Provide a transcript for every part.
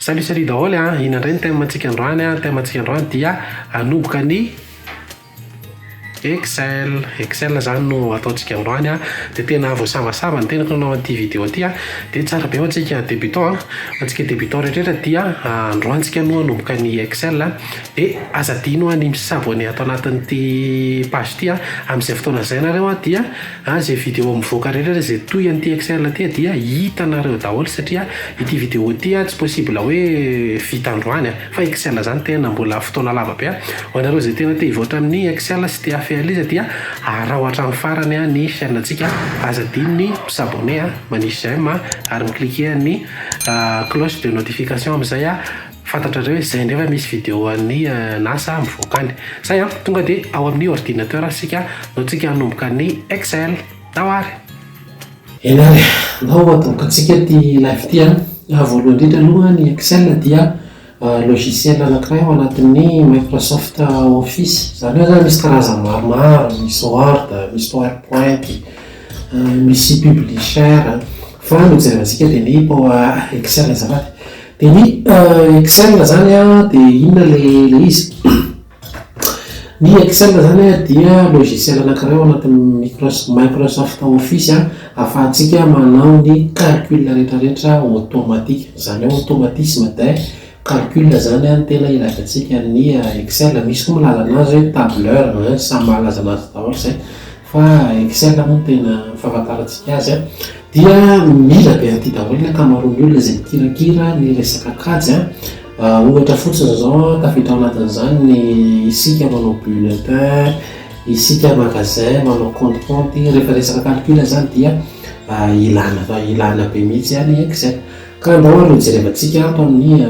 Salut salut daholo a, ina ndray ny thème ntsika androany a, ny thème ntsika androany dia hanomboka ny Excel, Excel zany no ataontsika androany a, de tena voasavasava ny tenako nanao an'ity vidéo ty a, de tsara be ho antsika débutant a, ho antsika débutant rehetra dia androany tsika no hanomboka ny Excel a, de aza adino a ny mi s'abonner ato anatin'ity page ty a, amzay fotoana zay nareo a dia Ary izay video mivoaka rehetra ary izay toy an'ity exerle ty dia hitanareo daholo satria ity video ity an tsy possible hoe vita androany an! fa exerle zany tena mbola fotoana lava be an! ho anareo izay tena te hivoatra amin'ny exerle sy te hafehala izy dia araho hatramin'ny farany an ny chaine ntsika aza adino ny mi s'abonner an! manisy j'aime an! ary mi cliquer ny cloche de notification amin'izay an! Fantatrareo izay nefa misy video an'i Nasa mivoaka any. Zay an! Tonga dia ao amin'ny ordinateur isika no tsika hanomboka ny Excel. Tao ary! Eny ary, ndao hatombokantsika ity live ity an! Voalohany indrindra aloha ny Excel dia logiciel anankiray ao anatin'ny Microsoft Office. Izany hoe zany misy karazany maromaro, misy Word, misy Power Point, misy Publisher, fa ny hojerevantsika dia ny Excel azafady. Dia ny Excel zany an dia inona ilay ilay izy? Ny Excel zany an dia logiciel anankiray ao anatin'ny Microsoft Office ahafahantsika manao ny calcul rehetrarehetra automatique, izany hoe automatisme des calculs izany an no tena ilaizantsika ny Excel, misy koa ny ilazana azy hoe tableur, samy mahalazana azy daholo izay. Fa except moa no tena fahafantarantsika azy an! Dia mila be an'ity daholo ny ankamaroan'ny olona izay mikirakira ny resaka kajy an! Ohatra fotsiny izao an, tafiditra ao anatin'izany ny isika manao bulletin, isika magasin manao compte compte, rehefa resaka calcul izany dia ilana ilana be mihitsy an! ny except. Ka andao ary ho jerevantsika ato amin'ny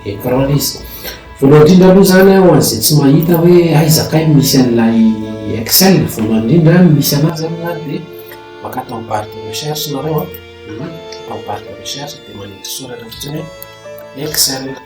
écran ilay izy. Voalohany indrindra aloha izany ho an'izay tsy mahita hoe aiza kay no misy an'ilay Excel, voalohany indrindra ny misy an'azy zany na dia maka ato amin'ny barre de recherche nareo an, dia manindry soratra fotsiny hoe Excel.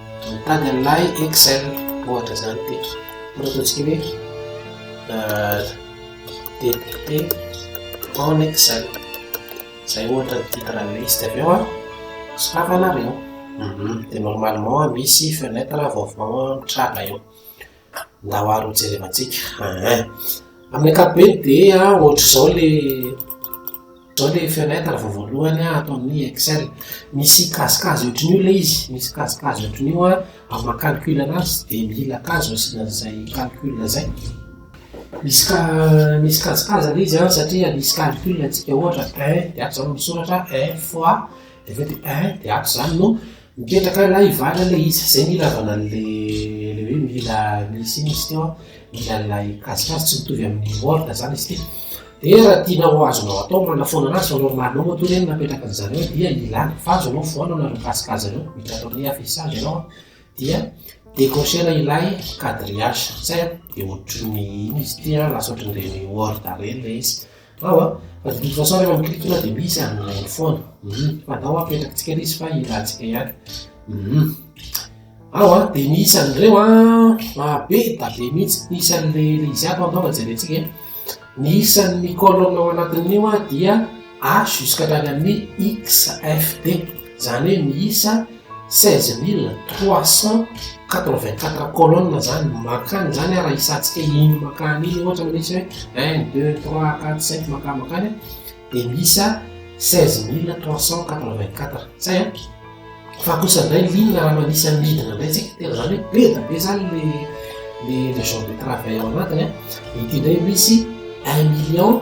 Mitady an'ilay Excel ohatra izany teto. Ohatra ataontsika hoe DPT en Excel. Izay ohatra ny titre an'ilay izy. Dia avy eo sokafanareo. Dia normalement misy fenêtre vaovao mitranga eo. Ndao ary ho jerevantsika aa. Amin'ny ankapobeny dia ohatr'izao ilay ohatr'izao ilay fenêtre vao voalohany ato amin'ny Excel. Misy kazikazy ohatran'io ilay izy, misy kazikazy ohatran'io amin'ny maha calcul anazy dia mila kazo asiana an'izay calcul izay. Misy ka misy kazikazy ilay izy satria misy calcul antsika ohatra un dia ato izany no misoratra un fois dia avy eo dia un dia ato izany no. Mipetraka any lahy vady anie izy, zay mila avana anle le hoe mila misy ino izy teo an, mila an'ilay kajikajy, tsy mitovy amin'ny morgue zany izy ity. Dia raha tianao azonao atao manafoana anazy fa normal anao matoa re ny napetraka an'i zany eo dia ilany fa azonao foana anareo kajikajy anareo, mila atao ny affichage ianao an, dia decrocher ilay quadrillage, zay an, dia ohatry ny ino izy ity an, lasa ohatry ny reny word reny le izy. Ao a, fa didy sasany eo amin'ny clique-nao dia misy an'ny like foana. Hum, fantao a, apetrakintsika ilay izy fa hilantsika ihany. Hum. Ao a, dia ny isan'ireo a, ah, be da be mihitsy, ny isan'ilay ilay izy hafa angamba jerentsika e. Ny isan'ny colonne ao anatin'io a dia A jusqu'à hatrany amin'ny XFD. Izany hoe miisa seize mille trois cent quatre vingt quatre colonnes izany no makany, izany raha hisantsika iny makany iny ohatra hoe misy hoe un, deux, trois, quatre, cinq makany makany an, dia miisa seize mille trois cent quatre vingt quatre, zay an, fa kosa indray liana raha manisa ny midina indray tsika, tena izany hoe be dia be izany ilay ilay genre de travail ao anatiny an, dia ity indray misy un million.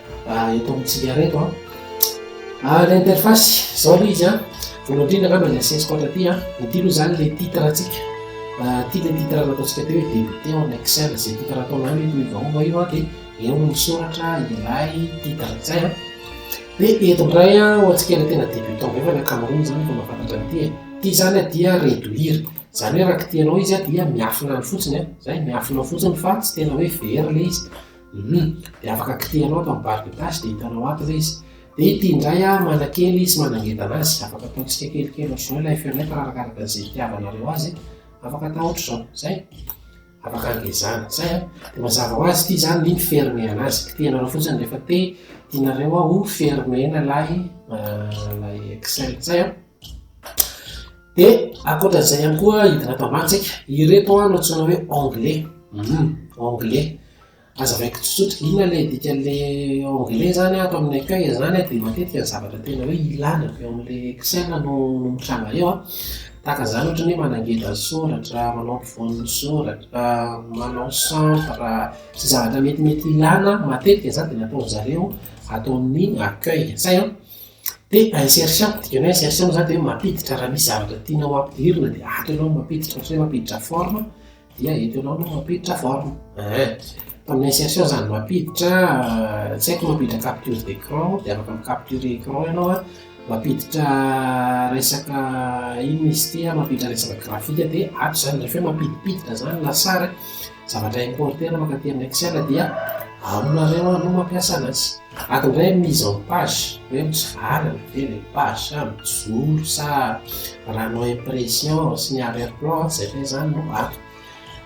Ah, eto amin'ny tsingara eto an. Ah. ah, ilay interface, izao aloha izy an. Voalohany indrindra angamba ny asesiko ato aty an. Ity aloha izany ilay titre antsika. Ah, ity ilay titre nataontsika teo hoe débuté en Excel. Izay titre ataonao hoe toy vahoba io an, dia eo no misoratra ilay titre izay an. Dia eto indray an, ho antsika ilay tena débutant be fa ny ankamaroany izany efa mahafantatra an'ity e. Ity izany an dia réduire. Izany hoe raha kitihanao izy an dia miafina any fotsiny an. Izay, miafina fotsiny fa tsy tena hoe very ilay izy. Humm de afaka kitihanao ato amin'ny barre de tâche de hitanao ato ilay izy. De ity indray ary manakely sy manangedana azy, afaka ataontsika kelikely ohatr'izao ilay fenêtre arakaraka izay itiavanareo azy, afaka atao ohatr'izao, zay, afaka angezana, zay an, de mazava ho azy ity zany ny fermer-na azy, kitihanareo fotsiny rehefa te tianareo ho fermer-na ilay ilay excel, zay an. Dia ankoatra izay ihany koa hidina ato amantsika ireto no antsoina hoe anglais hmm, anglais azavaiko tsotsotra inona le dika le anglais zany ato amin'ny accueil zany dia matetika ny zavatra tena hoe ilana avy ao amin'le excel no mitranga eo a tahaka izany ohatra ny hoe manangedra ny soratra manao ampovoan'ny soratra manao centre sy zavatra metimety ilana matetika izany dia nataon'zareo ato amin'ny accueil zay a Dia insertion, ny dikan'izay insertion moa izany dia hoe mampiditra raha misy zavatra tianao hampidirina dia ato ianao no mampiditra, ohatra hoe mampiditra forme dia eto ianao no mampiditra forme ein. Amin'ny insertion izany mampiditra tsy haiko mampiditra capture d'écran dia afaka mi-capturer écran ianao an, mampiditra resaka inona izy ity an, mampiditra resaka graphique dia ato izany, rehefa hoe mampidimpiditra izany lasary an. Zavatra importer mankaty amin'ny excel dia aonareo aloha mampiasa anazy. Ato indray mise en page hoe mitsivalana ve ilay page sa mijoro sa raha hanao impression sy ny arrière plan ato izay fehezany no ato.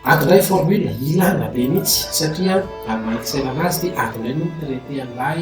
Ato indray formule ilana be mihitsy satria raha ny maha excel anazy dia ato indray no mi-traiter an'ilay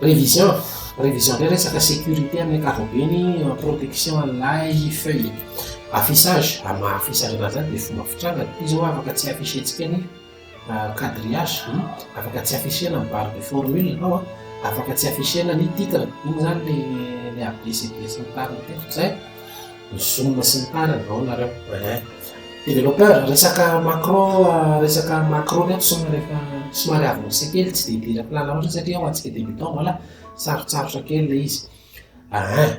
Révision, révision indray resaka sécurité amin'ny ankapobeny, protection an'ilay feuille. Affichage, amin'ny maha affichage anazy azy dia fomba fitranga, ity izao afaka tsy afficher-tsika ny quadrillage, afaka tsy afficher-na ny barre de formule ianao an, afaka tsy afficher-na ny titre, iny izany ilay abcd sy ny tariny teo, izay. ny zoom sy ny tariny ao nareo eh developpeur resaka macro resaka macro reto soma rehefa somary avy misy kely tsy dia dira plana loatra satria ho antsika débutant voilà sarotsarotra kely le izy ah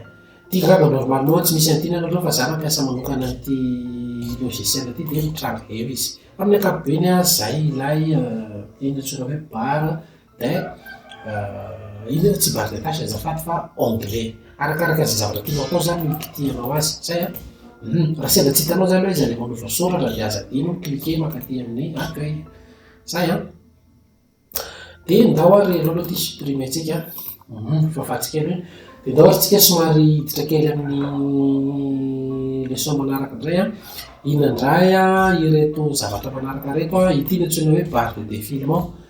ty grave normal loha tsy misy antina nareo fa za mampiasa manokana an'ity logiciel ty de mitranga eo izy amin'ny ankapobeny ah zay ilay ino antsoina hoe bar Eh inona le tsy barre de tâche azafady fa onglet. Arakaraka izay zavatra tianao atao zany no kitihanao azy zay an. Hum raha sendra tsy hitanao zany hoe iza le manova soratra de aza adino ny cliquer mankaty amin'ny accueil. Zay an. De ndao ary aleo aloha ity supprimer tsika an. Hum fahafaty kely hoe. De ndao ary tsika somary hiditra kely amin'ny leçon manaraka ndray an. Inona ndray ireto zavatra manaraka ireto an, ity no antsoina hoe barre de défilement.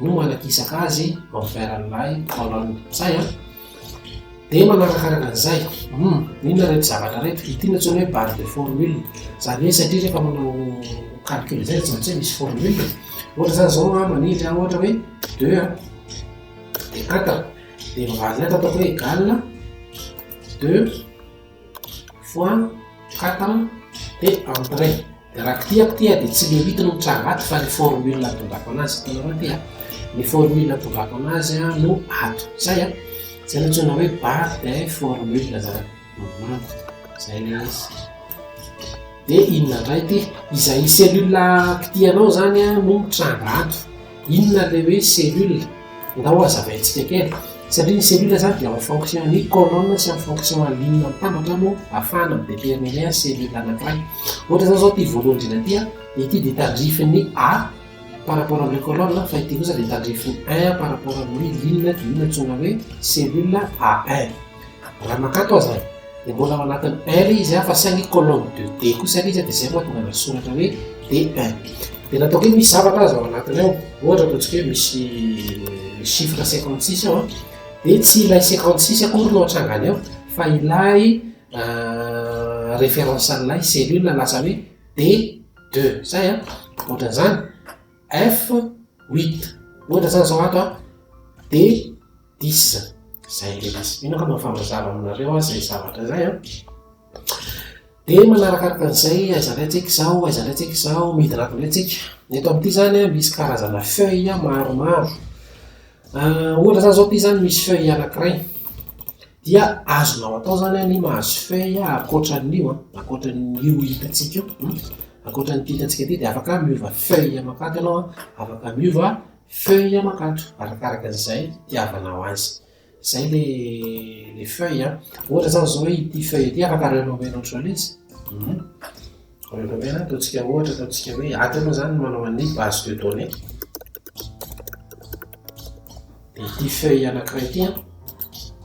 no manakisaka azy vao fiaran'ilay taolan'ny mpiray a! Dia manaraka araka an'izay, hum, inona ireto zavatra ireto? Ity no antsoina hoe base de formule, izany hoe satria rehefa manao calcul izay dia tsy maintsy hoe misy formule e. Ohatra izany izao a, maniry a, ohatra hoe deux a, dia quatre, dia ny valiny ato ataoko hoe égal deux, Foan, katan, dia entre. Dia raha kitihako ity dia tsy le rythme no tranga ato fa le formule natongako anazy. Hitanareo ity an, le formule natongako anazy no ato. Zay an, zay no antsoina hoe bar de formule zany. Zay le izy. Dia inona indray ity? Izay cellule kitihanao zany no mitranga ato. Inona ilay hoe cellule? Ndao hazavaintsika kely. Satria ny cellule izany dia en fonction an'ny colonne sy en fonction an'ny inona mitambatra no ahafahana mi-déterminer ny cellule anankiray. Ohatra izao izao ity voalohany indrindra ity an, ity dia tandrifin'ny A par rapport amin'ilay colonne fa ity kosa dia tandrifin'ny 1 par rapport amin'ilay inona dia io no antsoina hoe cellule A1. Raha makato aza dia mbola ao anatin'ny er izy fa saingy colonne de d kosa ilay izy dia izay no mahatonga an'azy soratra hoe D1. Dia ny ataoko hoe misy zavatra aza ao anatiny ao, ohatra ataontsika hoe misy chiffre cinquante six ao an, dia tsy ilay cinquante six akory no atrangany ao fa ilay référence an'ilay cellule lasa hoe D2, izay an, ohatran'izany. F huit, ohatra zany zao ato an, de dix, zay le izy, mino aho fa mahafaha-mazava aminareo aho zay zavatra zay an, de manarakaraka an'izay aiza indray tsika izao, aiza indray tsika izao, midina aby indray tsika, ny eto amin'ity zany an misy karazana feuille maromaro, ohatra zany zao ity zany misy feuille anakiray, Dia azonao atao zany an i mahazo feuille ankoatran'io an, ankoatran'io hitantsika io, ankoatran'ity hitantsika ity dia afaka miova feuille aman-kato ianao an, afaka miova feuille aman-kato arakaraka an'izay itiavanao azy. Izay le le feuille an, ohatra zany zao hoe ity feuille ity afaka arahinao omenao otrona izy, Rehefa tena ataontsika ohatra, ataontsika hoe ady ianao izany manao an'io base de données. Dia ity feuille anankiray ity an,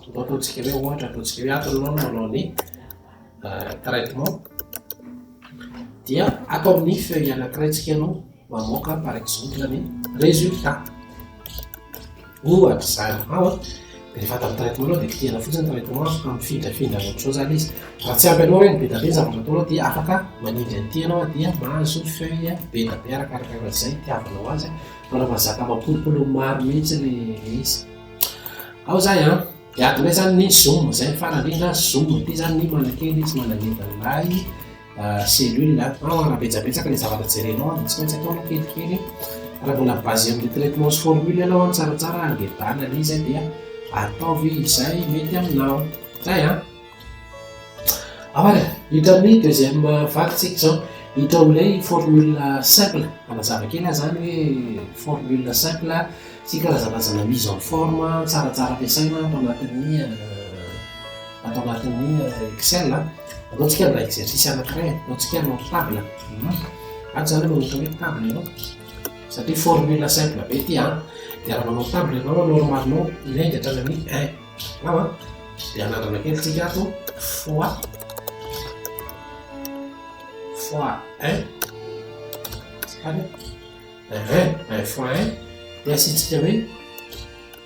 toa ataontsika hoe ohatra, ataontsika hoe ato ianao no manao ny euh, traitement. Dia ato amin'ny feuille anankiray tsika ianao. Mamoaka par exemple ny résultat. Ohatra izany ao an, rehefa atao ny traitement anao dia kitihana fotsiny ny traitement afaka mifindrafindra any amin'izao izany izy. Raha tsy ampy anao ireny be dia be ny zavatra ataonao dia afaka manindry an'ity ianao dia mahazo feuille be dia be arakaraka an'izay itiavanao azy fa raha mahazaka mampolopolo maro mihitsy ilay izy. Ao izay an, dia adinay izany ny zoom izay ny farany indrindra zoom ity izany ny manakely izy mananindry an'ilay cellules an, raha betsabetsaka ilay zavatra jerenao an, dia tsy maintsy atao aloha kelikely e, raha mbola basé amin'ny traitement sy formule ianao an, tsaratsara angebana ilay izy an, dia ataovy izay mety aminao, zay an. Amara, hitan'ny deuxième vague tsika izao, hita amin'ilay formule simple, manazava kely aho izany hoe formule simple sy karazanazana mise en forme tsaratsara ampiasaina ato anatin'ny ato anatin'ny excel an. Ataontsika ny exercice anankiray, ataontsika ny table. Ato izany no atao hoe table ianao, satria formule simple be ity an. Dia raha manao table ianao normalement ilay dia hatrany amin'ny un. Ao an, dia anandrana kely tsika ato fois fois un. Tsika un, un fois un, dia asiantsika hoe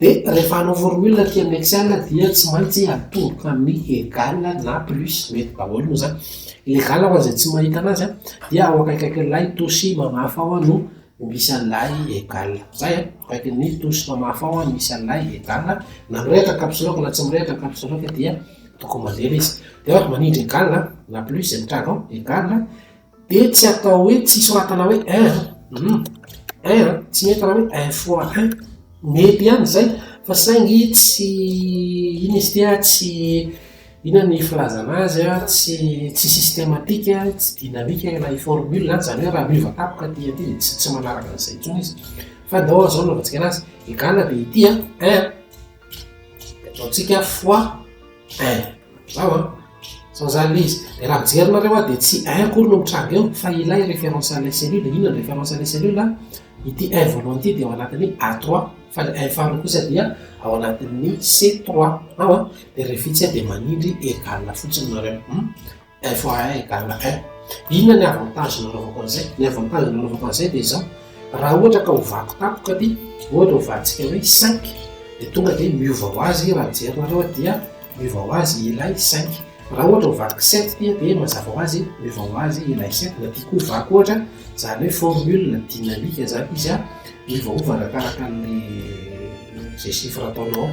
Dia rehefa hanao formule aty amin'ny excel dia tsy maintsy atodika amin'ny egal na plus mety daholo moa zany legal ho an'izay tsy mahita anazy an dia ao akaikaikin'ilay tosy mamafa ao no misy an'ilay egal zay an akaikin'ny tosy mamafa ao no misy an'ilay egal na mirehitra caps lock na tsy mirehitra caps lock dia tokony mandeha ilay izy dia manindry egal na plus zay mitranga ao egal Dia tsy atao hoe tsy soratana hoe er um er tsy mety raha hoe un fois un mety ihany izay fa saingy tsy iny izy ity a tsy inona ny filazana azy a tsy tsy systematique a tsy dynamique ilay formule izany izany hoe raha miova tapoka aty aty dia tsy tsy manaraka an'izay intsony izy fa ndao izao no anaovana antsika an'azy egal dia ity a er dia ataontsika fois Ein, zao an! Zao izany ilay izy. Dia raha mijerinareo aho dia tsy ein akory no mitranga eo fa ilay référence an'ilay cellule. Inona ny référence an'ilay cellule an? Ity ein voalohany ity dia ao anatin'ny A trois fa ilay ein faharoa kosa dia ao anatin'ny C trois. Ao an! Dia revitsy aho dia manindry égal fotsiny nareo. FAI, Garlakai, inona ny avantage nanaovako an'izay? Ny avantage nanaovako an'izay dia izao, raha ohatra ka ho vaky tampoka ity, ohatra ho valintsika hoe cinq, dia tonga dia miova ho azy raha jerinareo dia miova ho azy ilay cinq. Raha ohatra ho vaky sept ity dia mazava ho azy miova ho azy ilay sept. Na dia koa ho vaky ohatra, izany hoe formule dynamique izany izy, miovaova arakaraka ny izay chiffre ataonao ao.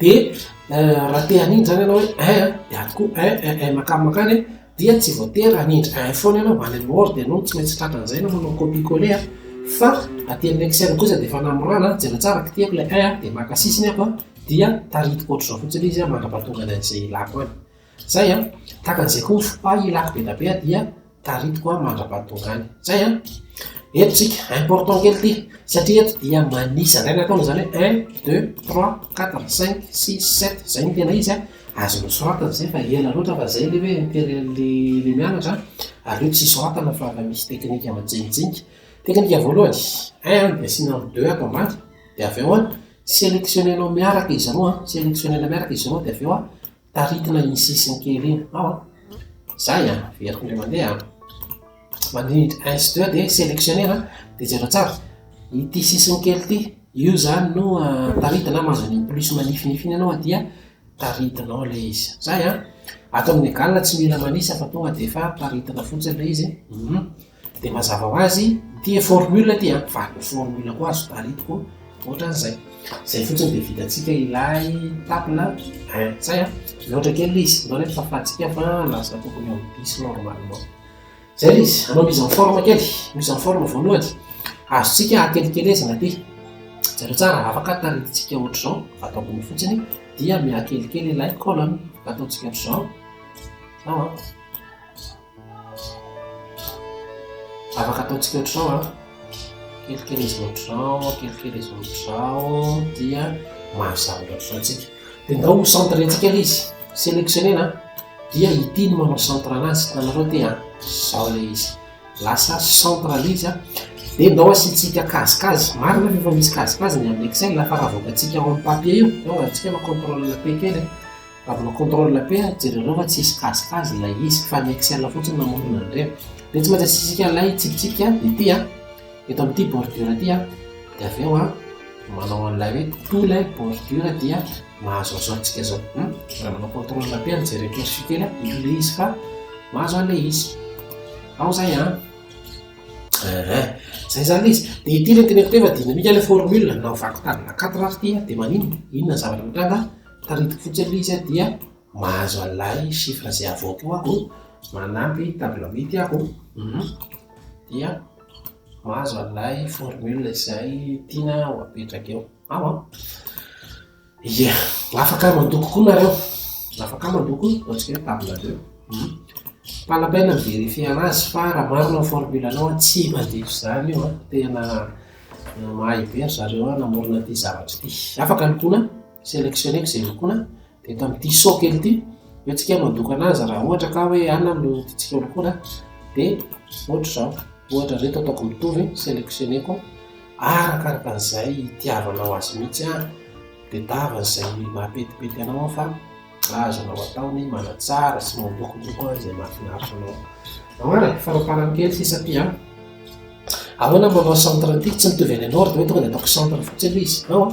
Dia raha te hanindry izany ianao hoe un an, dia ato koa un, un, un, mankany mankany an, dia tsy voatery hanindry un foana ianao vao any amin'ny or dia ianao tsy maintsy tratran'izay ianao manao copier coller an, fa aty amin'ny excel kosa dia efa namorana an, jereo tsara, kitihiko ilay un an, dia maka sisiny aho an, dia tarihiko ohatr'izao fotsiny izy an, mandra-pahatonga any amin'izay ilako any. Zay an! Tahaka an'izay koa ny fopay ilako be dia be an dia taritiko an mandra-pahatongany. Zay an! Eto tsika, important kely ity, satria eto dia manisa, zay ny ataony izany hoe un, deux, trois, quatre, cinq, six, sept, zay ny tena izy an! Azo nosoratana zay fa ela loatra fa zay le hoe interet le le mianatra an! Aleo tsy soratana fa efa misy teknika majinijinika. Teknika voalohany, un an dia asiana ny deux ato ambany, dia avy eo an selectionner-nao miaraka izy roa an, selectionner-na miaraka izy roa dia avy eo an Taritina i sisiny kely iny ao a. Zay a, very indray mandeha a. Manindry un sy deux dia selectionner a, dia jereo tsara. Ity sisiny kely ity, io zany no taritina an, mahazo an'iny plus manifinify iny ianao dia taritinao ilay izy. Zay a. Ato amin'ny egal tsy mila manisa fa tonga dia efa taritina fotsiny ilay izy. Dia mazava ho azy, ity formule ity an, fa formule koa azo paritiko ohatran'izay. Izay fotsiny dia vitantsika ilay tapina un. Zay an, mihoatra kely ilay izy, nareo efa fahantsika fa lasa tokony ho dix normalement. Zay ilay izy, hanao mise en forme kely, mise en forme voalohany, azontsika akelikelezina ity. Jereo tsara, raha afaka taritintsika ohatr'izao, ato ambony fotsiny, dia mihakelikely ilay colonne, ataontsika ohatr'izao, zao an. Afaka ataontsika ohatr'izao a, kelikely izy ohatr'izao, kelikely izy ohatr'izao, dia mahazo zavatra ohatr'izao antsika. Dia ndao ho centrentsika ilay izy, sélectionner-na, dia ity no manao centre anazy, hitanareo ity a, izao ilay izy, lasa centre ilay izy a, dia ndao asiantsika kazikazy, marina ve fa misy kazikazy ny amin'ny excel fa raha avoakantsika ao amin'ny papier io, eo aza antsika manao contrôle P kely e. Avona contrôle la paix ary jereo fa tsy hisy kazikaz ilay izy fa ny excel fotsiny namorona ny reva dia tsy maintsy asisika ilay tsipitsipika ity an eto amin'ity bordure ity an dia avy eo an manao an'ilay hoe tout ilay bordure dia mahazo an'izao antsika izao hum raha manao contrôle la paix ary jereo cursus kely an ilo ilay izy fa mahazo an'ilay izy ao izay an eeh izay izany ilay izy dia ity ilay tena tena dinamika ilay formule na vaky tadina quatre ary ity dia maninona inona ny zavatra mitranga Tadidiko fotsiny aloha izy a dia mahazo an'ilay chiffre izay havoakao aho, manampy table huit aho dia mahazo an'ilay formule izay tiana ho apetraka eo ao an! Ie! Afaka mandoko koa nareo, afaka mandoko ataontsika hoe table deux, pas la peine mi-verifier anazy fa raha marina ny formule anao an, tsy mandevo izany io an! Tena mahay be ry zareo namorona ity zavatra ity. Afaka lokoina. Sélectionner izay lokoina dia eto amin'ity saut kely ity eo tsika mandokana azy raha ohatra ka hoe ana no tiantsika ho lokoina dia ohatra izao ohatra reto ataoko mitovy sélectionneko arakaraka an'izay itiavanao azy mihitsy an dia dava izay mahapetipety anao aho fa azonao atao ny manatsara sy mandokodoko an izay mahafinaritra anao ao ara faraparany kely sisa ty an ahoana manao centre an'ity tsy mitovy any anao ary dia hoe tonga dia ataoko centre fotsiny izy ao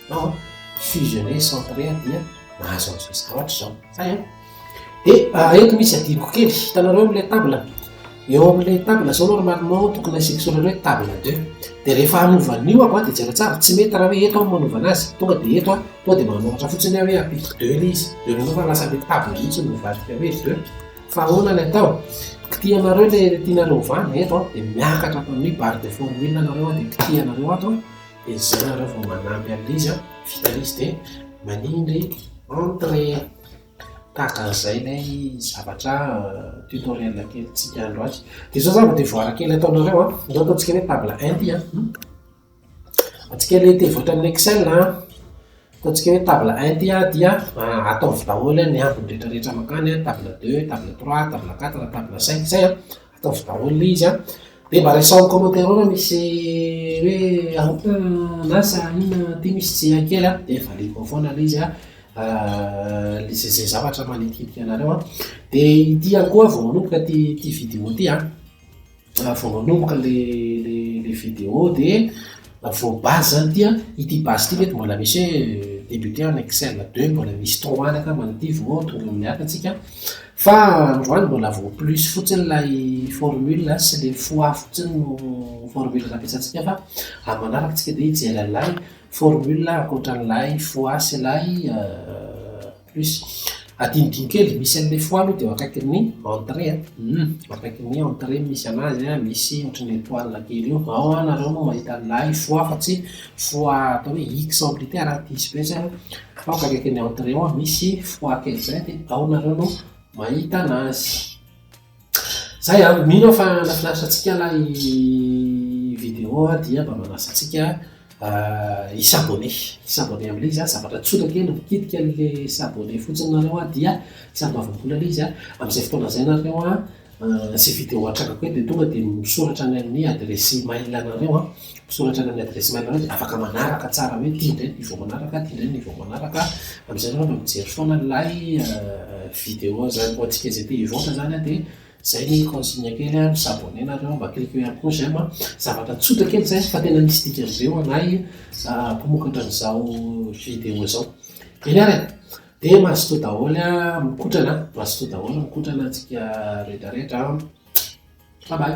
Fa fusionner centrer dia mahazo an'izao zavatra izao. Zay an. Dia eto misy adinoko kely, hitanareo amin'ilay table, eo amin'ilay table zao normalement tokony asiako soratra hoe table deux. Dia rehefa hanova an'io aho dia jereo tsara, tsy mety raha hoe eto aho no manaovana azy, tonga dia eto aho, tonga dia manoratra fotsiny aho hoe ampidiko deux ilay izy, dia eo fa lasa ilay table mihitsy no mivadika hoe deux. Fa ahoana ny atao? Kitihanareo ilay tianareo hovana eto an, dia miakatra hatramin'ny barre de formule ianareo an, dia kitihanareo ato an. Dia zara raha vao manampy an'ilay izy an, vitany izy dia manindry entre tahaka an'izay ilay zavatra tutoriel kelintsika andro azy. Dia izao zany vao devoara kely ataonareo an, izao ataontsika hoe table un ity an, antsika ilay te-hivoatra amin'ny excel an, ataontsika hoe table un ity an dia ataovy daholo ny ambiny rehetrarehetra mankany an, table deux, table trois, table quatre, table cinq, izay an. Ataovy daholo le izy a. De mba raiso am commentaire ao ra misy hoe aoka na sa inona aty misy tsy hay kely a. De valiako ao foana le izy a. Le ze ze zavatra manitikitika anareo a. De ity ihany koa vao manomboka ty ty video ty a. Vao manomboka le le le video de. Vaovao base zany ity an, ity base ity ve de mbola misy hoe débuté en excel deux mbola misy trop an angamba ny ity vao tonga amin'ny hafa tsika fa androany mbola vao plus fotsiny ilay formule sy le fois fotsiny no formule nampiasantsika fa amin'ny manaraka tsika dia hijery an'ilay formule ankoatran'ilay fois sy ilay Plus. Adinodino kely, misy an'ilay foie aloha dia eo akaikin'ny entrée a, humm, eo akaikin'ny entrée no misy anazy a, misy ohatry ny étoile kely eo, ao a nareo no mahita an'ilay foie fa tsy foie atao hoe X en plus tena raha diso be zay an, fa ao akaikin'ny entrée ao misy foie kely zay dia ao nareo no mahita anazy. Zay an! Mino aho fa nahafinaritra antsika ilay vidéo dia mba manasa antsika hi s'abonner. Hi s'abonner amin'ilay izy an! Zavatra tsotra kely an! Mikitika an'ilay s'abonner fotsiny nareo an! Dia tsy ambavam-bola ilay izy an! Amin'izay fotoana izay nareo an, sy vidéo atrangako eto dia tonga dia misoratra any amin'ny adiresy email anareo an! Misoratra any amin'ny adiresy mail anao dia afaka manaraka tsara hoe ity indray ny vao manaraka, ity indray ny vao manaraka. Amin'izay ianao no mijery foana ilay video izany boaty kely izay te hivoaka izany dia izay ny consigne kely a, mi-s'abonner nareo, mba cliquer ihany koa j'aime a. Zavatra tsotra kely izay fa tena misy dikany be ho anay mpamokatra an'izao video izao. Eny ary e! Dia mazotoa daholo a, mikotrana, mazotoa daholo mikotrana antsika rehetrarehetra a. Bye bye!